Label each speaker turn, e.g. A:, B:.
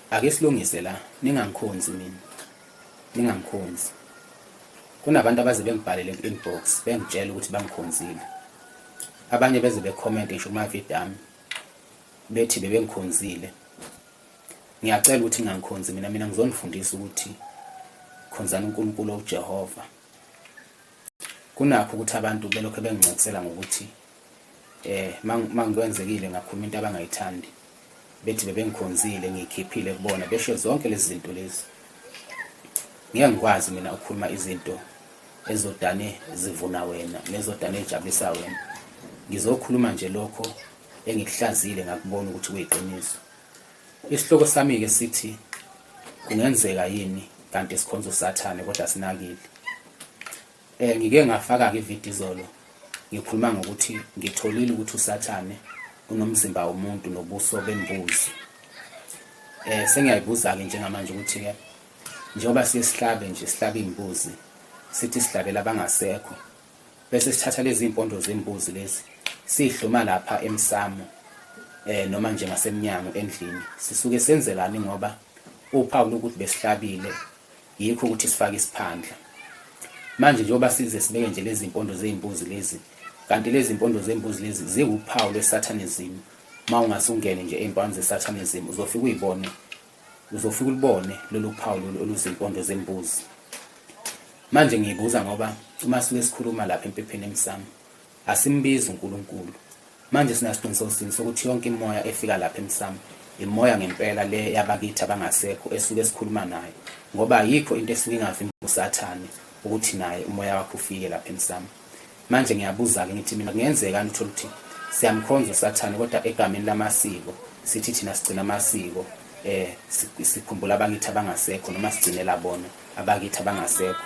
A: Ake silungise la, ningangikhonzi mina. Ningangikhonzi. Kunabantu abaze bengibhalele ku-inbox bengitshela ukuthi bangikhonzile. Abanye beze becomment ngisho kuma-video ami bethi bebengikhonzile. Ngiyacela ukuthi ningangikhonzi mina, mina ngizonifundisa ukuthi khonzani uNkulunkulu owuJehova. Kunakho ukuthi abantu belokhu bengincokisela ngokuthi eh mangikwenzekile ngakhuluma into abangayithandi bethi bebengikhonzile ngikhiphile kubona besho zonke lezi zinto lezi ngeke ngikwazi mina ukukhuluma izinto ezodane zivuna wena nezodane ejabulisa wena ngizokhuluma nje lokho engikuhlazile ngakubona ukuthi kuyiqiniso isihloko sami-ke sithi kungenzeka yini kanti sikhonza usathane kodwa sinakile Eh ngike ngafaka ke video izolo ngikhuluma ngokuthi ngitholile ukuthi usathane unomzimba womuntu nobuso bembuzi. Eh sengiyayibuza ke njengamanje ukuthi ke njengoba siye sihlabe nje sihlabe imbuzi sithi sihlabela abangasekho bese sithatha lezi impondo zembuzi lezi sihluma lapha emsamo eh noma nje ngasemnyango endlini sisuke senzelani ngoba uphawu lokuthi besihlabile Yikho ukuthi sifake isiphandla. Manje njengoba size sibeke nje lezi mpondo zey'mbuzi lezi, kanti lezi mpondo zembuzi lezi ziwuphawu lweSatanism. Uma ungase ungene nje ey'mpawini zeSatanism uzofika uyibone, uzofika ulibone lolu phawu lolu oluzimpondo zembuzi. Manje ngiyibuza ngoba uma sike sikhuluma lapha empepheni emsamo, Asimbizi uNkulunkulu. Manje sinasiqiniseko sini sokuthi yonke imimoya efika lapha emsamo imoya ngempela le yabakithi abangasekho esuke sikhuluma nayo ngoba ayikho into esuke ingavimba usathane ukuthi naye umoya wakho ufike lapha emsamo manje ngiyabuza-ke ngithi mina kungenzekani uthole ukuthi siyamkhonza usathane kodwa egameni lamasiko sithi thina sigcina amasiko eh sikhumbula abakithi abangasekho noma sigcinela bona abakithi abangasekho